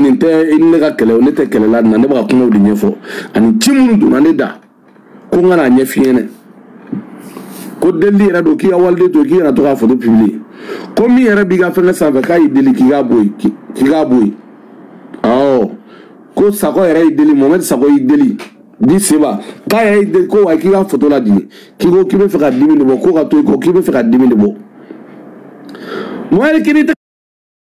nin tɛ i ni ne ka kɛlɛ ne tɛ kɛlɛ la nin na ne bɛ ka kumaw de ɲɛfɔ ani ci minnu donna ne da ko n ka n'a ɲɛf'i ɲɛna ko delili yɛrɛ don k'i ka waliden to k'i kana to k'a foto publier ko min yɛrɛ b'i ka fɛnkɛ sanfɛ k'a y'i deli k'i k'a bɔ yen k'i k'a bɔ yen awɔ ko sakɔ yɛrɛ y'i deli mohamɛdi sakɔ y'i deli di seba k'a yɛrɛ y'i deli ko wa k'i ka foto ladigi k'i ko k'i bɛ fɛ ka dimi de bɔ ko ka to i kɔ k'i bɛ fɛ ka dimi de bɔ mohamɛdi k'i ni tɛ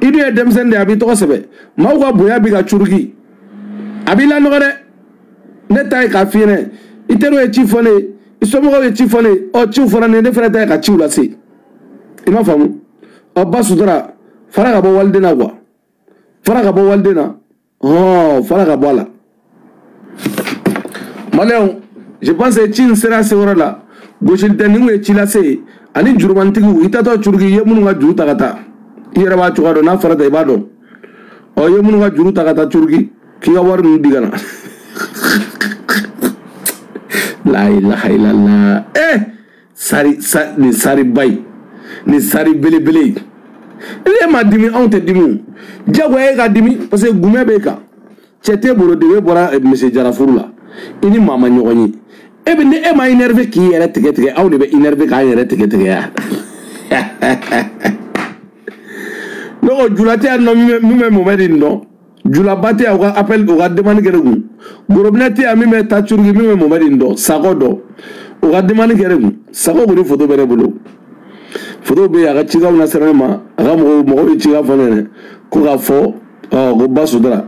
i dun ye denmisɛnnin de ye a b'i tɔgɔ sɛbɛ maaw ka bonya b'i kan curuki a b'i lanɔgɔ dɛ ne ta ye k'a f'i ɲɛnɛ i teriw ye ci fɔ ne ye i somɔgɔw ye ci fɔ ne ye ɔ ciw fɔra ne ye ne fana ta ye ka ciw lase i m'a faamu ɔ ba sutura fara ka bɔ waliden na quoi fara ka bɔ waliden na ɔ fara ka bɔ a la maliyɛnw je pense que ci in sera se yɔrɔ la gosili tɛ nin ye ci lase ye ani jurumanitigiw i taatɔ curuki i ye minnu ka juru ta ka taa i yɛrɛ b'a cogoya dɔn n'a fɔra tan i b'a dɔn ɔ i ye minnu ka juru ta ka taa curuki k'i ka wari ninnu di ka na la ilaha illallah eh sari sa nin sariba ye nin sari belebele ye ne ma dimi anw tɛ dimi o jagoya e ka dimi parce que gumɛ b'e kan cɛ t'e bolo debe bɔra eh, monsieur jara furu la i ni maa ma ɲɔgɔn ye e bɛ ni e ma énerver k'i yɛrɛ tigɛ tigɛ anw de bɛ énerver k'an yɛrɛ tigɛ tigɛ ya ne ko jula tɛ yan nɔ min bɛ momɛdi dɔn julaba tɛ yan u ka appel u ka demande kɛ ne kun gorobinɛ tɛ yan min bɛ taa curuki min bɛ momɛdi in dɔn sakɔ dɔn u ka demande kɛ ne kun sakɔ kɔni foto bɛ ne bolo foto bɛ yen a ka cikanw na sera ne ma a ka mɔgɔw ye cikan fɔ ne ɲɛna ko k'a fɔ ko ba sutura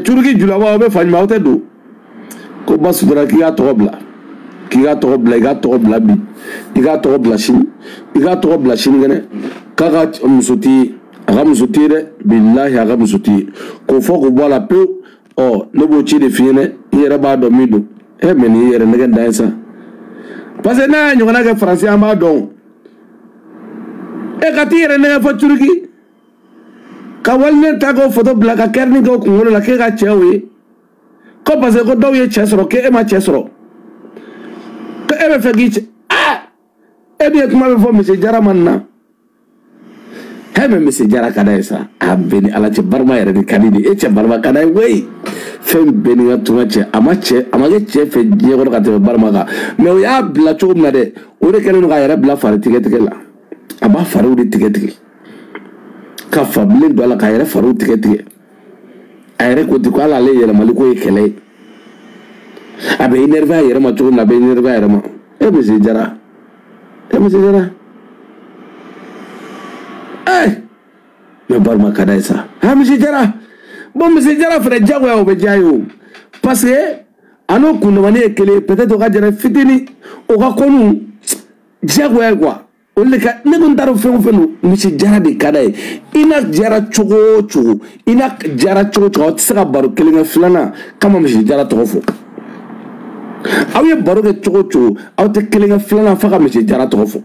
curuki julaba aw bɛ fa ɲuman aw tɛ don ko ba sutura k'i k'a tɔgɔ bila k'i k'a tɔgɔ bila i k'a tɔgɔ bila bi i k'a tɔgɔ bila sini i k'a tɔgɔ bila sini kɛnɛ k'a ka muso t'i ye a ka muso t'i ye dɛ bilahi a ka muso t'i ye k'o fɔ k'o bɔ a la pewu ɔ ne b'o ci de f'i ɲɛna i yɛrɛ b'a dɔn min don e mɛ nin y'i yɛrɛ nɛgɛn dan ye sa parce que n'a y'a ɲɔgɔnna kɛ faransi an b'a dɔn e ka t'i yɛrɛ nɛgɛn fɔ turuki ka waliden ta k'o foto bila ka kɛrini k'o kunkolo la k'e ka cɛ o ye ko parce que ko dɔw ye cɛ sɔrɔ k'e ma cɛ sɔrɔ ko e bɛ fɛ k'i cɛ aa e dun ye kuma bɛɛ fɔ monsieur jara man na hɛ mɛ monsieur jara ka d'a ye sa a bɛɛ ni ala cɛ barima yɛrɛ de ka di de e cɛ barima ka d'a ye koyi fɛn bɛɛ n'i ka tuma cɛ a ma cɛ a ma kɛ cɛ fɛ diɲɛ kɔnɔ ka tɛmɛ barima kan mɛ o y'a bila cogo min na dɛ o de kɛlen don k'a yɛrɛ bila fari tigɛ tigɛ la a b'a fariw de tigɛ tigɛ ka fabilen don a la k'a yɛrɛ fariw tigɛ tigɛ a yɛrɛ ko di ko ala ale yɛrɛ mali ko ye kɛlɛ ye a bɛ énervé a yɛrɛ ma cogo min na a bɛ énervé a yɛrɛ ma e monsieur jara e monsieur jara ee eh! mɛ barama ka d'a ye sa ha monsieur jara bon monsieur jara frère diyagoya o bɛ diya ye o parce que a n'o kundamani ye kelen ye peut être o ka jara fitini o ka kanu diyagoya ye quoi o de ka ne ko n t'a dɔn fɛn o fɛn don monsieur jara de ka d'a ye i n'a jara cogo o cogo i n'a jara cogo o cogo aw tɛ se ka baro kelen kɛ filanan k'a ma monsieur jara tɔgɔ fɔ aw ye baro kɛ cogo o cogo aw tɛ kelen kɛ filanan f'a ka monsieur jara tɔgɔ fɔ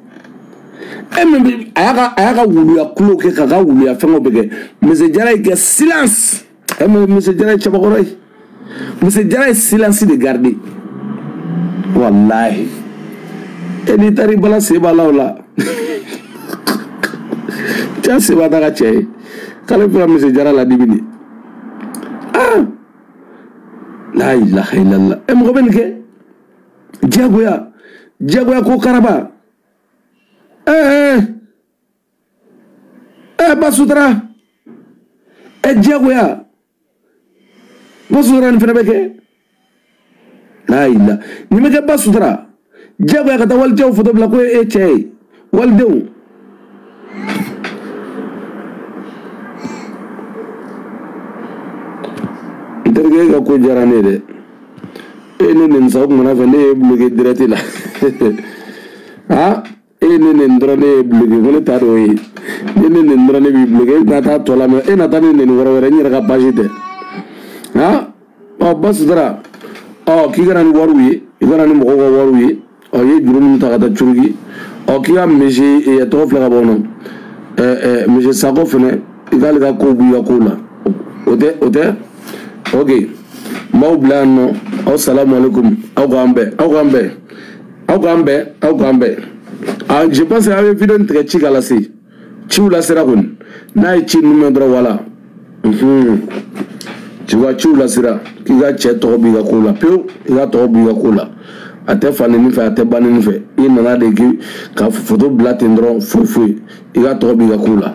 e min bɛ a y'a ka a y'a ka wuluya kulo kɛ k'a ka wuluya fɛngɛw bɛ kɛ monsieur jara y'i kɛ silence. ɛ mɛ monsieur jara ye cɛbakɔrɔ ye monsieur jara ye silence de gardé walahi e n'i taara i bala sen b'a la o la cɛ sen b'a ta ka cɛ ye k'ale bɛ ka monsieur jara ladimi de ah la ilaha illallah ɛ mɔgɔ bɛ nin kɛ diyagoya diyagoya ko karaba ɛɛ. Eh, eh. ɛ ba sutura ɛ diyagoya ba sutura nin fana bɛ kɛ n'a y'i la nin bɛ kɛ ba sutura diyagoya ka taa wali cɛw foto bila ko e cɛ ye walidenw n terikɛ e ka ko diyara ne ye dɛ e ne neni sa o kumana fɛ ne ye bloqué direct la aa e ne neni dɔrɔn ne ye bloqué ne t'a dɔn o ye ne neni dɔrɔn ne b'i bloqué e tɛna taa tɔ lamɛn e na taa ne neni yɔrɔ wɛrɛ n yɛrɛ ka page tɛ han ɔ ba sutura ɔ k'i ka na ni wariw ye i ka na ni mɔgɔw ka wariw ye ɔ i ye juru minnu ta ka taa turquie ɔ k'i ka monsieur ɛ tɔgɔ filɛ ka bɔ nɔ ɛ ɛ monsieur sako fɛnɛ i k'ale ka kow b'i ka kow la o tɛ o tɛ ok n b'aw bila yan nɔ aw salamu aleykum aw k'an bɛn aw k'an bɛn aw k'an bɛn aw k'an bɛn ah, je pense que aw ye video nin tigɛ ci ka lase ciw lasera kɔni n'a ye ci nin mɛn dɔrɔn wala ci ka ciw lasera k'i ka cɛ tɔgɔ b'i ka ko la pewu i ka tɔgɔ b'i ka ko la a tɛ fa neni fɛ a tɛ ba neni fɛ i nana de k'i ka foto bila ten dɔrɔn foyi foyi i ka tɔgɔ b'i ka ko la